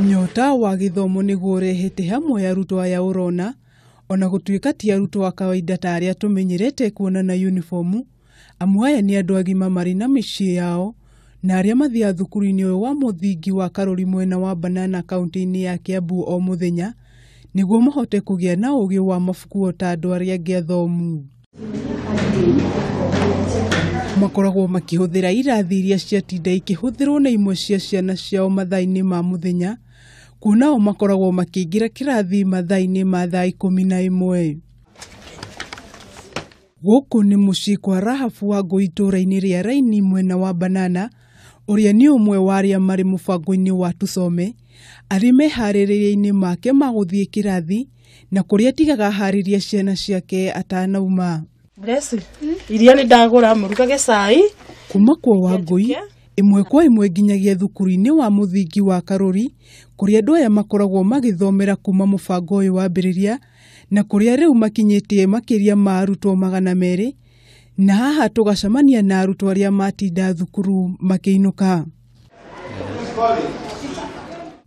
Nyota wa gĩthomo nĩguo ũrehete hamwe arutwo aya ũrona, ona gũtuĩka ti arutwo a kawaida ta arĩa tũmenyerete kuona na yunibomu, amu aya nĩ andũ agima marĩ na mĩciĩ yao, na arĩa mathiaga thukuru-inĩ ũyũ wa mũthingi wa Karori mwena wa Banana kaũntĩ-inĩ ya Kiambu o mũthenya, nĩguo mahote kũgĩa na ũgĩ wa mabuku o ta andũ arĩa angĩ athomu. makoragwo makĩhũthĩra irathi iria ciatinda ikĩhũthĩrwo nĩ imwe cia ciana ciao mathaa-inĩ ma mũthenya kuona o makoragwo makĩingĩra kĩrathi mathaa-inĩ ma thaa ikũmi na ĩmwe gũkũ nĩ mũciĩ kwa rahabu wa ngũ itũũra-inĩ rĩa raini mwena wa banana ũrĩa nĩ ũmwe wa arĩa marĩ mũbango-inĩ wa tusome arĩ meharĩrĩria-inĩ make ma gũthiĩ kĩrathi na kũrĩa tigaga aharĩrie ciana ciake atanauma Grace, iria nĩ ndagũra mũrugage cai kuma kwa wangũi ĩmwe kwa ĩmwe nginyagia thukuru-inĩ wa mũthingi wa karũri kũrĩa andũ aya makoragwo magĩthomera kuma mũbango ũyũ wambĩrĩria na kũrĩa rĩu makinyĩtie makĩria ma arutwo magana merĩ na haha tũgacemania na arutwo arĩa matinda thukuru makĩinũka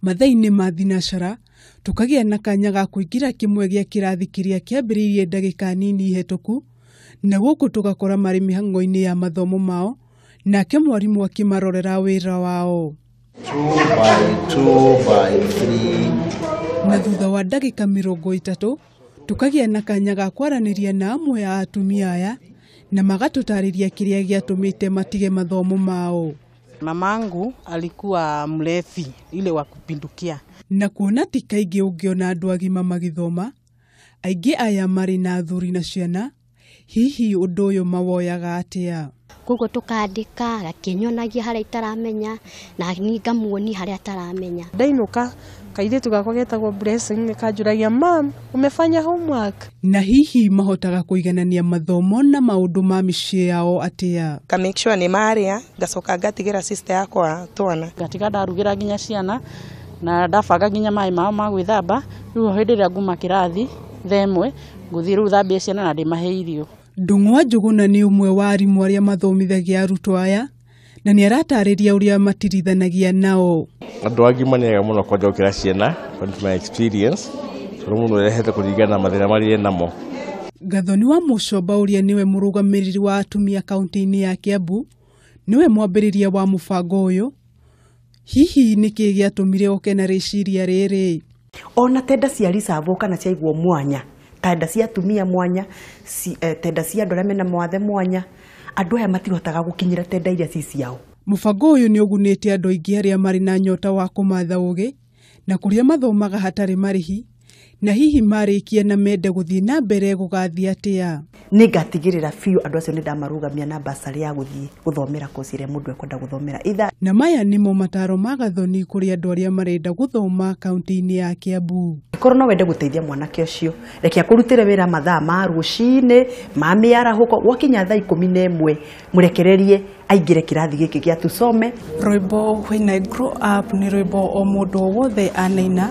mathaa-inĩ ma thinacara tũkagĩa na kanya ga kũingĩra kĩmwe gĩa kĩrathi kĩrĩa kĩambĩrĩirie ndagĩka nini hĩtũku, na gũkũ tũgakora marĩ mĩhang'o-inĩ ya mathomo mao, nake mwarimũ akĩmarorera wĩra wao. Two by two by three. Na thutha wa ndagĩka mĩrongo ĩtatũ, tũkagĩa na kanya ga kwaranĩria na amwe a atumia aya, na magatũtarĩria kĩrĩa gĩatũmĩte matige mathomo mao. Mamangu alikuwa mlevi ile wa kupindukia. Na kuona ti kaingĩ ũngĩona andũ agima magĩthoma, aingĩ aya marĩ na athuri na ciana, hihi ũndũ ũyũ mawoyaga atĩa? koguo tũkandĩka akĩnyonagia harĩa itaramenya na niĩ ngamuonia harĩa ataramenya. Ndainũka Kairĩtu gakwa getagwo Blessing nĩ kanjũragia mam, umefanya homework? Na hihi mahotaga kũiganania mathomo na maũndũ ma mĩciĩ yao atĩa? Nga make sure nĩ marĩa, ngacoka ngatigĩra sister yakwa twana. Ngatiga ndarugĩra nginya ciana na ndabanga nginya maĩ mao ma gwĩthamba. Rĩu hĩndĩ ĩrĩa nguma kĩrathi thaa ĩmwe, ngũthiĩ rĩu thambie ciana na ndĩmahe irio. Ndung'wa Njũgũna nĩ ũmwe wa arimũ arĩa mathomithagia arutwo aya. na nĩ aratarĩria ũrĩa matirithanagia nao. Andũ angĩ manyaga mũno kwanja gũkĩra ciana, according to my experience, tondũ mũndũ arehete kũringana na mathĩna marĩa e namo. Gathoni wa Mũcomba ũrĩa nĩwe mũrũgamĩrĩri wa atumia kaunti-inĩ ya Kiambu, nĩwe mwambĩrĩria wa mũbango ũyũ, Hihi nĩ kĩĩ gĩatũmire oke na rĩciria rĩrĩ? Ona tenda cia reserve kana ciaigwo mwanya, tenda cia atumia mwanya, ci- eh, tenda cia andũ arĩa mena mawathe mwanya, andũ aya matihotaga gũkinyĩra tenda iria ci ciao. Mũbango ũyũ nĩ ũgunĩte andũ aingĩ arĩa marĩ na nyota wa kũmatha ũũgĩ na kũrĩa mathomaga hatarĩ marĩhi. Na hihi marĩkia na mende gũthiĩ na mbere gũgathiĩ atĩa? nä ngatigä biå andå acio nä ndamarũgamia na basarä ya gå thiä gå thomera koci ä rä a må ndå ekwenda gå thomera itha Na maya nĩmo mataro ma Gathoni kũrĩ andũ arĩa marenda gũthoma kaunti-inĩ ya Kiambu. korwo no wende gå teithia mwanake å cio reke akå rutä re wä ra mathaa ma rå cinä ma mä arahå ko gwakinya thaa ikå mi na ä mwe mũrekererie aingĩre kĩrathi gĩkĩ gĩa tusome rwĩmbo when i grow up nĩ rwĩmbo o mũndũ o wothe anaina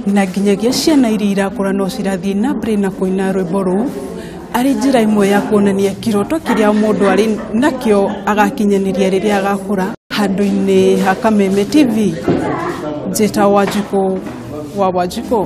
na nginyagia ciana iria irakũra no cirathiĩ na mbere na kũina rwĩmbo rũu arĩ njĩra ĩmwe ya kuonania kĩroto kĩrĩa mũndũ arĩ nakĩo agakinyanĩria rĩrĩa agakũra handũ-inĩ ha kameme tv njĩta wanjikũ wa wanjikũ